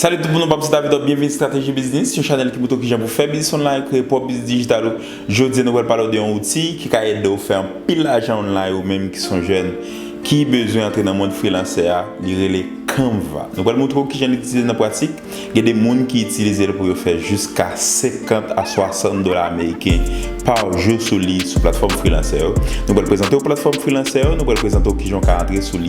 Salut tout moun nou pap se David Hop byenvini strateji biznis yon chanèl ki moutre w kijan pou fè biznis online kreye pwòp biznis dijital ou jodi a nou pral pale w de yon outi ki ka ede w fè anpil lajan online ou menm ki son jèn ki bezwen antre nan mond freelancè a li rele canva nou pral moutre w kijan l itilize nan pratik gen de moun ki itilize l pou yo fè jiska 50 a 60 dola ameriken par jou sou li sou platfòm freelancè yo nou pral prezante w platfòm freelancè yo nou pral prezante w kijan w ka antre sou li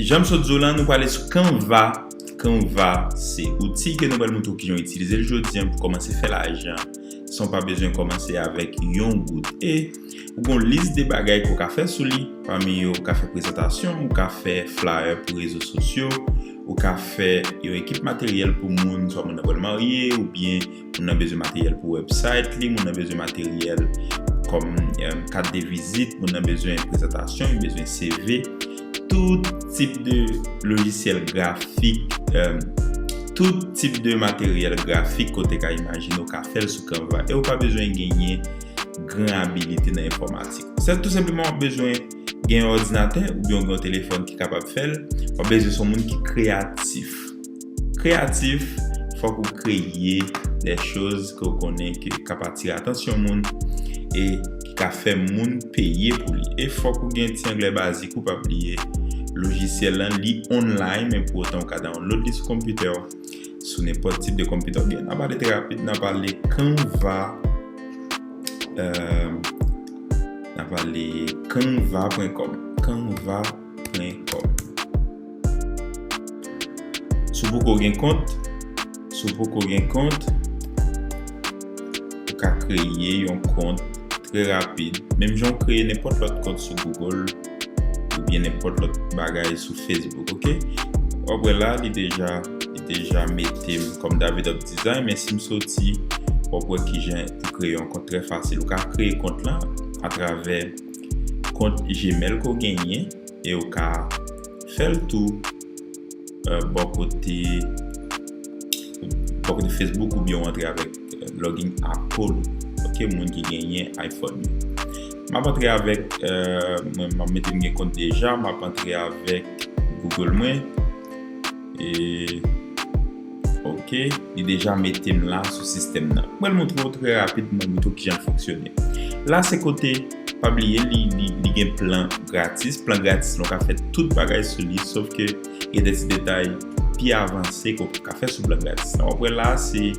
Jan m sot di w lan, nou pale sou Canva. Canva se outil ke nou pral montre w kijan w itilize l jodi an pou w kòmanse fè lajan san w pa bezwen kòmanse avèk yon goud. E ou gen yon lis de bagay ke w ka fè sou li, pami yo ou ka fè prezantasyon, ou ka fè flayè pou rezo sosyo, ou ka fè yon ekip materyèl pou moun, swa moun nan pral marye oubyen Moun nan bezwen materyèl pou website li, moun nan bezwen materyèl kòm kat de vizit, moun nan bezwen prezantasyon, li bezwen CV, tout tip de lojisyèl grafik, euh, tout tip de materyèl grafik kote ka imajine ou ka fèl sou Canva e ou pa bezwen genyen gran abilite nan enfòmatik. Se tout senpleman ou bezwen gen yon òdinatè ou byen gen yon telefòn ki kapab fèl, ou bezwen son moun ki kreyatif. Kreyatif, Fòk ou kreye de choz ke w konnen ke kap atire atansyon moun e ki ka fè moun peye pou li. E fòk ou gen ti anglè bazik ou pa bliye. Lojisyèl lan li online men pou otan ou ka download li sou konpitè w, sou nenpòt tip de konpitè oubyen nan pale trè rapid nan pale Canva nan pale canva pwen kòm. Canva. plen kòb. Si w poko gen kont, si w poko gen kont, ou ka kreye yon kont trè rapid, menm jan w kreye nenpòt lòt kont sou Google oubyen nenpòt lòt bagay sou Facebook ok. W ap wè la li deja li deja mete m kòm Davidoff Design men si m soti w ap wè kijan pou kreye yon kont trè fasil. Ou ka kreye kont lan atravè. kont gmail ke w genyen e w ka fè l tou bò kote facebook oubyen w antre avèk login apple ou ok moun ki genyen iphone yo m ap antre avèk mwen m mete m gen kont deja m ap antre avèk google mwen e Ok li deja metem la sou sistèm nan m pral montre w trè rapidman pito kijan l fonksyone la se kote pa bliye li gen plan gratis plan gratis lan w ka fè tout bagay sou li sof ke gen de ti detay pi avanse ke w paka fè sou plan gratis lan wap wè la se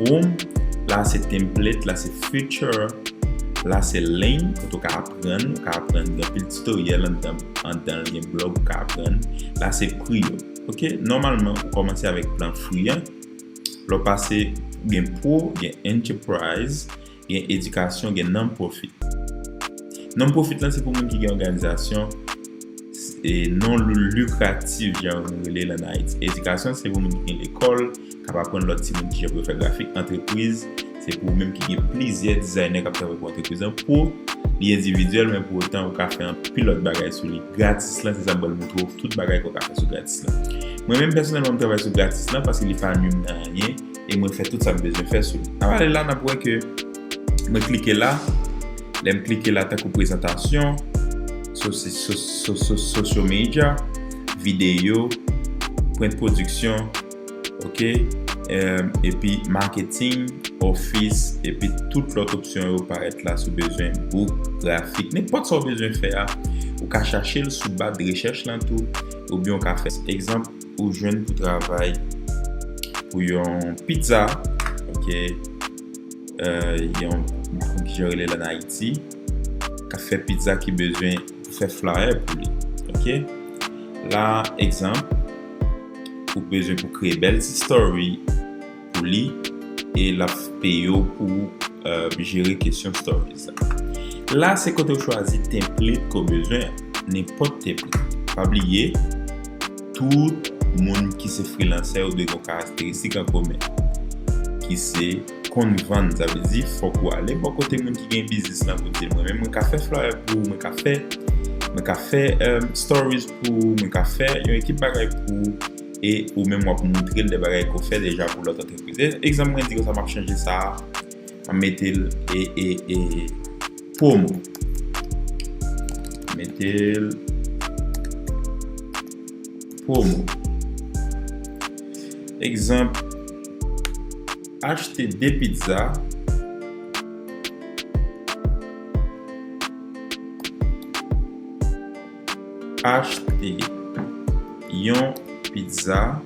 home la se template la se feature la se learn kote w ka aprann ou ka aprann gen anpil tutoriel anndan l gen blog ou ka aprann la se prix yo. Ok nòmalman ou kòmanse avèk plan free an lè w pase ou gen pro gen enterprise gen edikasyon gen non profit non profit lan se pou moun ki gen òganizasyon e non lukratif jan nou rele l an ayiti edikasyon se pou moun ki gen lekòl K ap aprann lòt timoun kijan pou yo fè grafik antrepriz. Se pou ou menm ki gen plizyè dizaynè k ap travay pou antrepriz lan. Pou li endividyèl men pou otan ou ka fè anpil lòt bagay sou li. Gratis lan se sa m pral montre w tout bagay ke w ka fè sou gratis lan. Mwen menm pèsonèlman m travay sou gratis lan paske li pa nwi m nan anyen e mwen fè tout sa m bezwen fè sou li. N ap ale la n ap wè ke mwen klike la. Lè m klike la tankou prezantasyon, sosyo medya, videyo, prent pwodiksyon. ok epi marketing office epi tout lot opsyon yo parèt la sou bezwen book grafik nenpòt sa ou bezwen fè a ou ka chache l sou ba de rechèch lan tou oubyen ou ka fè egzanp ou jwenn pou travay pou yon pizza ok yon kijan rele l an Ayiti ka fè pizza ki bezwen fè flyer pou li ok la egzanp ou t bezwen pou kreye bèl ti story pou li e lap peyew pou jere kesyon story sa la se kotew chwazi template ke w bezwen an nenpòt template pa bliye tout moun ki se freelancè yo dwe gen yon karakteristik an komen ki se konn vann sa vle di fòk ou ale bò kote moun ki gen biznis lan pou dil mwen menm mwen ka fè flyer pou ou mwen ka fè story Pou mwen ka fè yon ekip bagay pou ou e ou menm wap moutrel de bagay ke w fè deja pou lòt antrepriz. Egzanp mwen di konsa map chanje sa a map mete l e promo mete l promo egzanp achte 2 pizza Achte yon pizza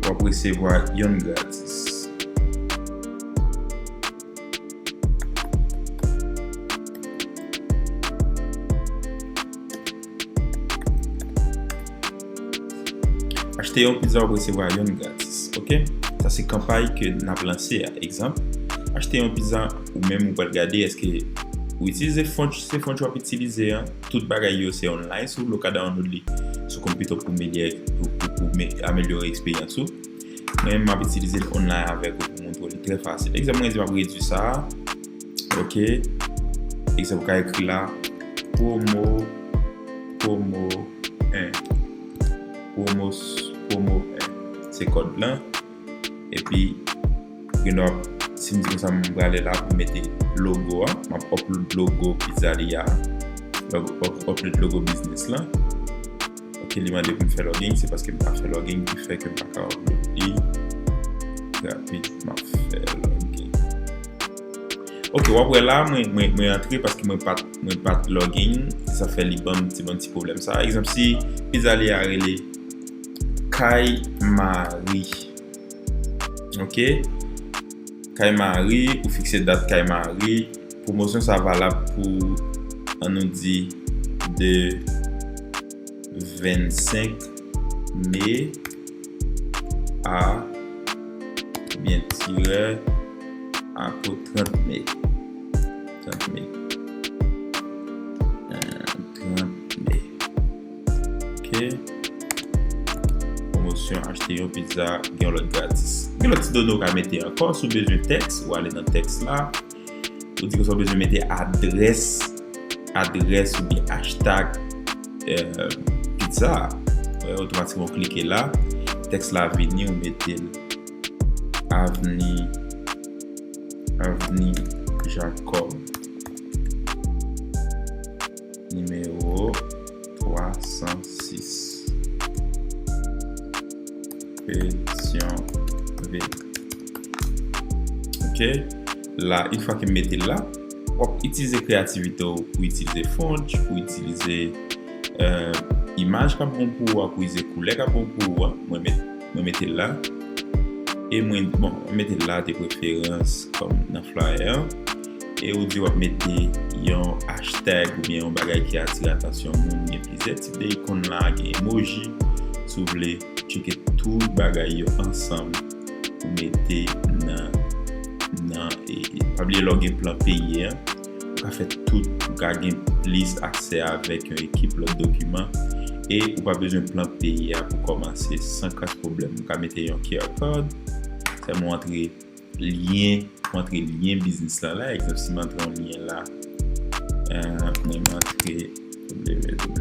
w ap resevwa youn gratis. Achte yon pizza wap resevwa yonn gratis ok sa se kanpay ke nap lanse a egzanp achte yon pizza ou menm ou pral gade eske ou itilize font se font wap itilize a tout bagay yo se online sou lo ka download li sou konpito pou melyè pou amelyore eksperyans ou mwen menm map itilize l online avèk ou pou moutre w li trè fasil egzanp mwen di map redwi sa a. Ok Ekzanp ou ka ekri la Pwomo Pwomo 1 Pwomo Pwomo 1 Se kòd lan Epi Gen dwa Si m di konsa m prale la pou m mete logo a M ap upload logo pizzaria a M ap upload logo biznis lan Ok li mande poum fè login se paske m pa fè login ki fè kem paka upload li rapid map fè login ok wap wè la mwen antre paske mwen pat mwen pat login se sa fè li banm ti banm ti problem sa egzanp si pizza li a rele kay mari ok. Kay Mari ou fikse dat Kay Mari Pwomosyon sa valab pou an nou di de 25 me a oubyen tirè a pou 30 me 30 me 30 me. Ok. Pwomosyon, achte yon pizza, gen yon lòt gratis. Gen lòt ti done ou ka mete ankò. Si w bezwen tèks, ou ale nan tèks la. Ou di ke sa w bezwen mete adrès, adrès ou byen achtag pizza a. Ou otomatikman klike la. Tèks la vini, ou mete l. Avni, avni Jakòb. Nimewo 306, Kesyon V. Ok, la in fwa ke m mete l la, w ap itilize kreyativite w pou itilize font, pou itilize imaj k ap bon pou ou a, pou itilize koulè k ap bon pou ou a. Mwen met, mwen mete l la. E mwen, bon, mwen mete l la de preferans kòm nan flyer an. e ou di wap mete yon hashtag ou byen yon bagay ki atire atansyon moun gen plizyè tip de ikon la gen emoji si w vle tcheke tout bagay yo ansanm pou mete nan nan e pa bliye lè w gen plan peye an ou ka fè tout ou ka gen plis aksè avèk yon ekip lòt dokiman e ou pa bezwen plan peye a pou kòmanse san kras pwoblèm ou ka mete yon QR code sèlman w antre Lyen, m antre lyen biznis la la, egzanp si m antre yon lyen la, mwen antre www.ifood.com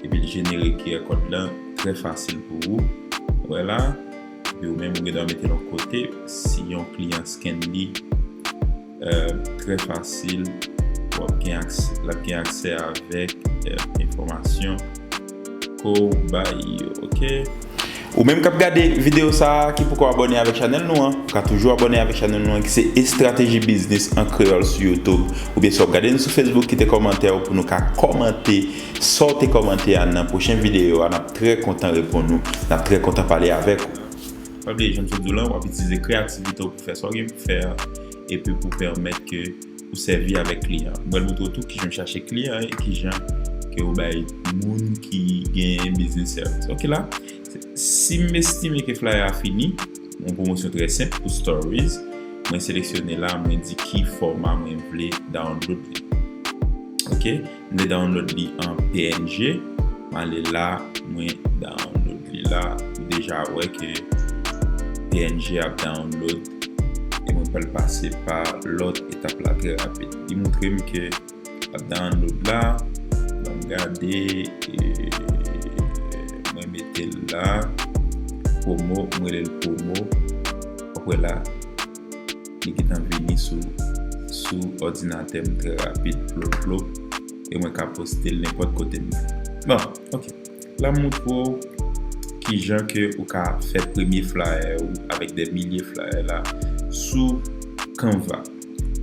epi l jenere QR kòd la trè fasil pou ou, ou wè la, epi ou menm ou gen dwa mete l yon kote, si yon kliyan scann li. trè fasil pou ap gen aksè lap gen aksè avèk enfòmasyon kouw bay yo ok. Ou menm kap gade video sa ki poko abone avèk chanèl nou an ou ka toujou abone avèk chanèl nou an ki se estrateji biznis an kreyòl sou youtube oubyen si wap gade nou sou facebook kite kòmantèw pou nou ka kòmante Saw te kòmante a nan pwochen video a nap trè kontan reponn ou nap trè kontan pale avèk ou. Sa vle di, jan m sot di w lan, w ap itilize kreyativite w pou fè sa w gen pou fè a epi pou pèmèt ke ou sèvi avèk kliyan an. M pral montre w tou kijan m chache kliyan e kijan ke yo bay moun ki genyen biznis sèvis. Ok la, si m estime ke flyer a fini, yon pwomosyon trè senp pou Stories, mwen seleksyone la, mwen di ki fòma mwen vle download li. Ok. M vle download li an png m ale la mwen download li la ou deja wè ke png ap download e mwen pral pase pa lòt etap la trè rapid li moutre m ke lap download la banm gade mwen mete l la promo m rele l promo wap wè la. Li gentan vini sou sou òdinatè m trè rapid plop plop e mwen ka poste l nenpòt kote m vle. Bon, ok. La m moutre w kijan ke ou ka fè premye flayè ou avèk dè milye flayè la sou Canva.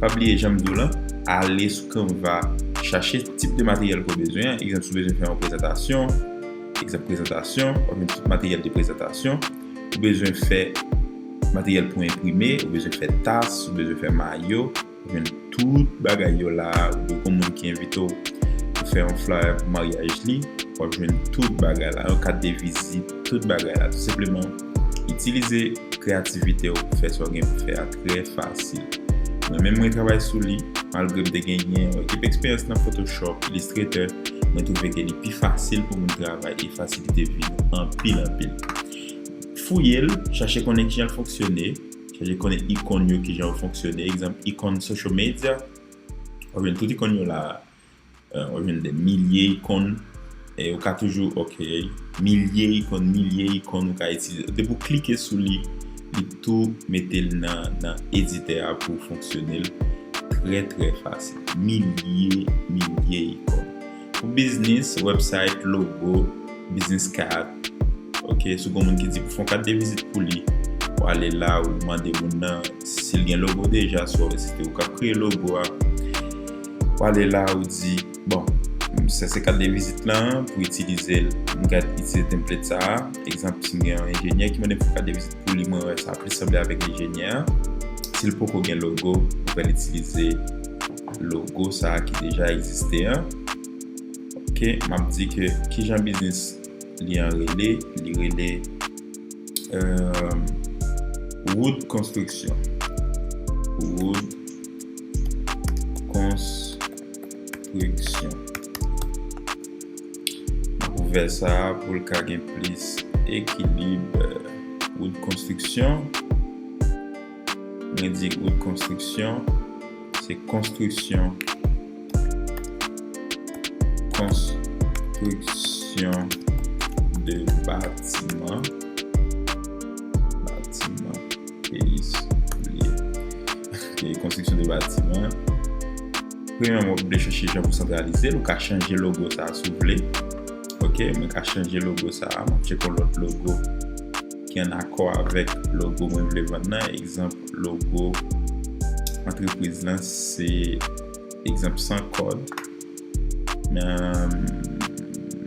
Pa bliye jan m di w lan, ale sou Canva chache tip de materyèl ke w bezwen an. Egzanp, si w bezwen fè yon prezantasyon, egzanp prezantasyon, w ap jwenn tout materyèl de prezantasyon. Ou bezwen fè materyèl pou enprime, ou bezwen fè tas, ou bezwen fè mayo, ou jwenn tout bagay yo la a, ou gen yon moun ki envite w pou fè yon flyer pou maryaj li, w ap jwenn tout bagay la, yon kat de vizit, tout bagay la. Tou senpleman, itilize kreyativite w pou fè sa w gen pou fè a trè fasil. Mwen menm mwen travay sou li, malgre m te genyen yon ekip eksperyans nan Photoshop, Illustrator, mwen twouve ke li pi fasil pou moun travay e fasilite vi nou anpil anpil. Fouye l, chache konnen kijan l fonksyone, chache konnen ikon yo kijan yo fonksyone, egzanp ikon social media wap jwenn tout ikon yo la wap jwenn de milye ikon e ou ka toujou ok milye ikon milye ikon ou ka itilize depi ou klike sou li li tou mete l nan editè a pou fonksyone l trè trè fasil milye milye ikon Pou biznis, website, logo, business card. Ok, si gen moun ki di pou fon kat de vizit pou li, ou ale la ou mande moun nan si l gen logo deja, swa ou se te ou kap kreye logo a. Ou ale la ou di, bon, sa se kat de vizit lan, pou itilize l, m gad itilize template sa a. Egzanp, si m gen yon enjenyè ki mande m fè kat de vizit pou li, mwen wè sa plis sanble avèk enjenyè a. Si l poko gen logo, ou fè l itilize. logo sa ki deja egziste an ok map di ke kijan biznis li an rele li rele wood konstriksyon wood konstriksyon map ouvè sa pou l ka gen plis ekilib wood konstriksyon Mwen di ou t konstriksyon se konstriksyon konstriksyon de batiman batiman peyi souliye ke konstriksyon de batiman premye mwen vle chache jan pou santralize l ou ka chanje logo sa sou vle ok mwen ka chanje logo sa mwen cheke yon lòt logo ki an akò avèk logo mwen vle vann nan, egzanp logo antrepriz lan se egzanp san kòd m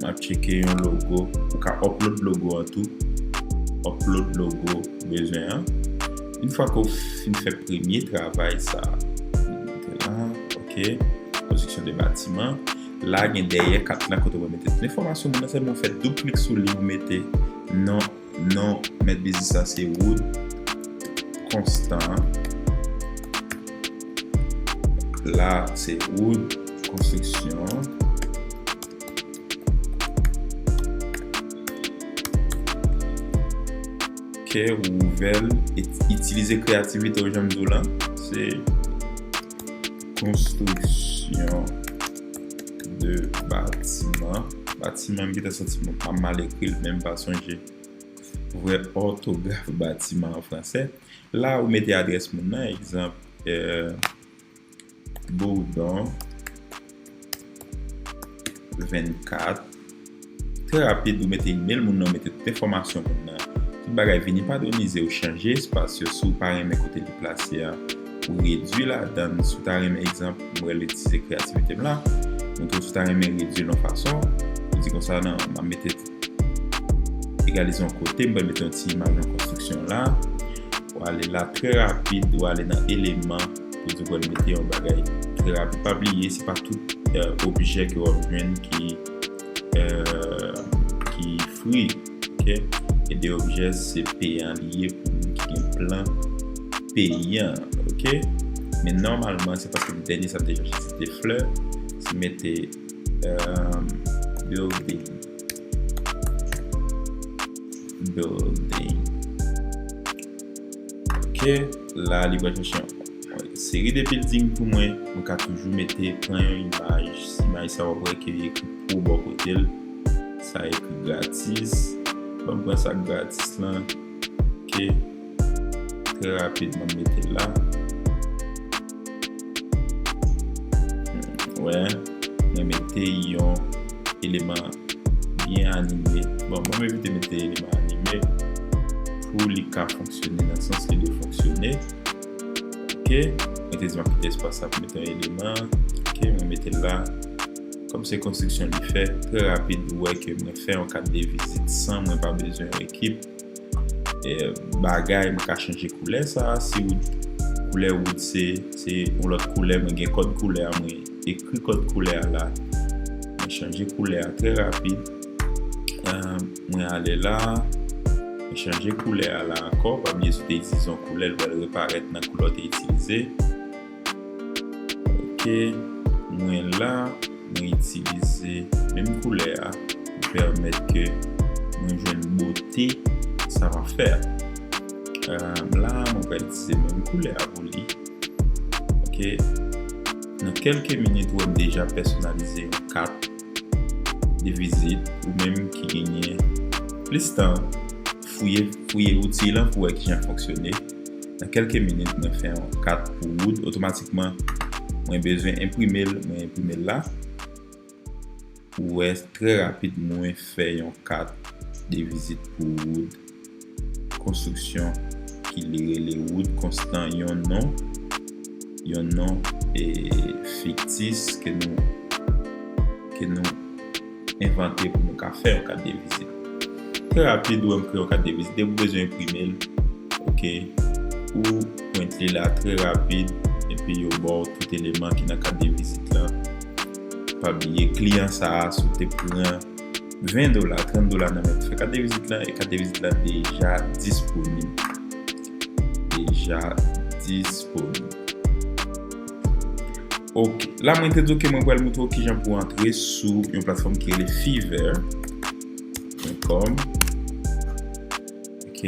ap tcheke yon logo ou ka upload logo an tou upload logo ou bezwen an yon fwa ke w fin fè premye travay sa mete la ok konstriksyon de batiman la gen dèyè kat la kote w mete tout enfòmasyon moun nan sèlman w fè doub klik sou li ou mete Non non mèt biznis la se Wood Constant. La se Wood Construction. Kè ou ouvèl, itilize kreyativite ou janm di w lan, se konstriksyon. 2 batiman, batiman m gentan santi m ap mal ekri l men m pa sonje vrè òtograf batiman an fransè la ou mete adrès moun nan egzanp Bourdon 24 Trè rapid ou mete email moun nan ou mete tout enfòmasyon moun nan tout bagay vini padonize ou chanje espas yo si w pa renmen kote li plase a ou redwi ladan l si w ta renmen egzanp m rele ti se kreyativite m la ou tou si w ta renmen redwi l yon fason ou di konsa nan m ap mete egalize yon kote m bal mete yon ti imaj yon konstriksyon la ou ale la trè rapid ou ale nan eleman ou di w bal mete yon bagay trè rapid pa bliye se pa tout objè ke w ap jwenn ki ki fri ok e de objè se peyan li ye pou moun ki gen plan peyan ok men nòmalman se paske dènye sa m te chache se te flè se mete building building ok la li pral chache yon Seri de bilding pou mwen, nou ka toujou mete pran yon imaj, si imaj sa wap wè ke li ekri pro bò kotel, sa ekri gratis, banm pran sak gratis lan, ok, trè rapid banm metel la, wè, mwen mete yon eleman byen anime, bon banm evite mete eleman anime pou li ka fonksyone nan sans li dwe fonksyone. ok mwen te di map kite espas sa pou mete yon eleman ok mwen metel la kòm se konstriksyon li fè trè rapid ou wè ke mwen fè yon kat de vizit san mwen pa bezwen yon ekip bagay mwen ka chanje koulè sa si wood koulè wood se se yon lòt koulè mwen gen kòd koulè a mwen ekri kòd koulè a la mwen chanje koulè a trè rapid Mwen ale la. Mwen chanje koulè a la ankò. Pa bliye si w te itilize yon koulè, li pral reparèt nan koulè w te itilize. Ok. Mwen la. Mwen itilize menm koulè a pou pèmèt ke mwen jwenn bote sa m ap fè a. La, mwen pral itilize menm koulè a pou li. Ok. Nan kèlke minit ou wè m deja pèsonalize yon kat. de vizit ou menm ki genyen plis tan fouye fouye outil lan pou wè kijan l fonksyone nan kelke minit mwen fè yon kat pou wood otomatikman mwen bezwen enprime l mwen enprime l la ou wè trè rapid mwen fè yon kat de vizit pou wood. konstriksyon ki li rele wout konstan yon non yon non fiktis ke nou ke nou envante pou nou ka fè yon kat de vizit trè rapid wè m kreye yon kat de vizit depi ou bezwen enprime l ok ou prent li la trè rapid epi yo ba w tout eleman ki nan kat de vizit la pa bliye kliyan sa a sou te pran 20 dola, 30 dola nan men pou fè kat de vizit lan e kat de vizit lan deja disponib. Deja disponib. Ok, la mwen te di ok mwen pral moutre w kijan pou antre sou yon platfòm ki rele Fiverr. Mwen kom. Ok.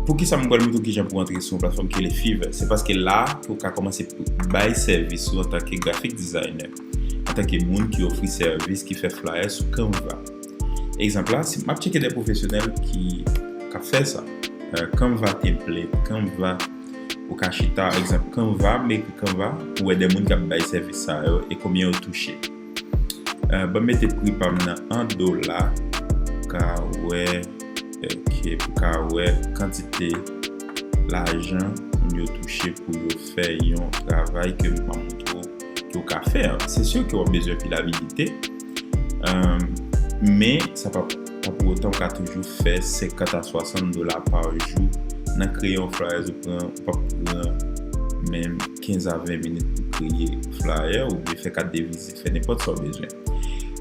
Pou ki sa mwen pral moutre w kijan pou antre sou yon platfòm ki rele Fiverr? Se paske la pou ka komanse bay sèvis ou antanke grafik dizayner. antanke moun ki ofri sèvis ki fè flayè sou Canva. Egzanp la, si m ap tcheke de pwofesyonèl ki ka fè sa, Canva template, Canva, ou ka chita, egzanp, Canva, m ekri Canva pou wè de moun k ap bay sèvis sa yo e konbyen yo touche. Ban m mete pri pa m nan an dola pou ka wè, ok, pou ka wè kantite lajan moun yo touche pou yo fè yon travay ke m ap montre w. Ou ka fè, se sur ke wap bezwen pil abilite, men sa pa pou otan ou ka toujou fè 50 a 60 dola par jou nan kreye yon flyers ou pran, ou pap pran menm 15 a 20 minit pou kreye flyer ou byen fè kat de vizit, fè nenpòt sa ou bezwen.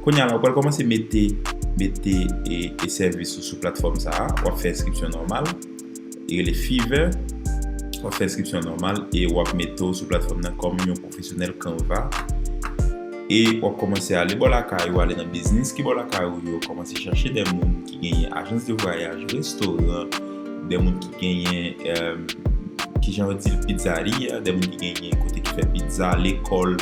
Kounya la ou pral kòmanse mete mete e sèvis ou sou platfòm sa a, wap fè enskripsyon nòmal. li rele Fiverr, wap fè enskripsyon an nòmal e wap mete w sou platfòm nan kòm yon pwofesyonèl Canva e wap kòmanse ale bò lakay ou ale nan biznis ki bò lakay ou yo kòmanse chache dè moun ki genyen ajans de vwayaj, restoran, dè moun ki genyen kijan yo di l pizzaria, dè moun ki genyen kote ki fè pizza, lekòl.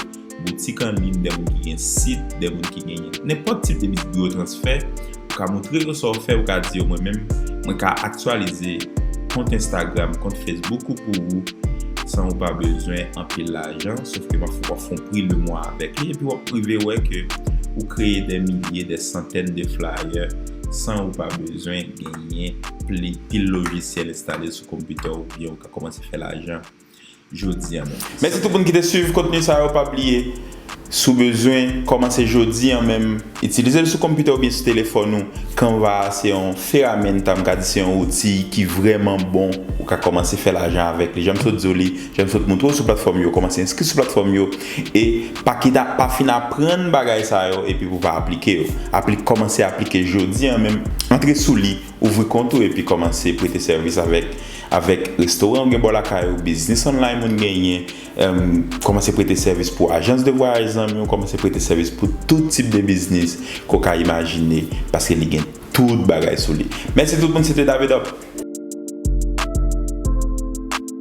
boutik an liy, dè moun ki gen sit, dè moun ki gen nenpòt tip de biznis pou yo transfè, ou ka moutre yo sa w fè, ou ka di yo mwen menm mwen ka aktyalize kont Instagram, kont Facebook ou pou ou san ou pa bezwen anpil lajan, sof ke wap fè yon pri le mwa avèk li, epi wap rive wè ke ou kreye dè milye, dè santèn de flayè san ou pa bezwen genyen pil lojisyèl enstale sou konpitè w oubyen ou ka kòmanse fè lajan. jodia menm. Mèsi tout moun ki te swiv kontni sa yo pa bliye si w bezwen kòmanse jodi an menm itilize l sou konpitè oubyen sou telefòn ou canva a se yon feramenta m ka di se yon outi ki vrèman bon ou ka kòmanse fè lajan avèk li jan m sot di w li jan m sot moutre w sou platfòm yo kòmanse enskri sou platfòm yo e pa kite pa fin aprann bagay sa yo epi pou w pa aplike yo apli kòmanse aplike jodi an menm antre sou li. Ouvri kont ou epi kòmanse prete sèvis avèk avèk restoran ou gen bò lakay ou, biznis online moun genyen, em, kòmanse prete sèvis pou ajans de vwayaj zanmi ou, kòmanse prete sèvis pou tout tip de biznis ke w ka imajine, paske li gen tout bagay sou li. Mèsi tout moun, se te David Up!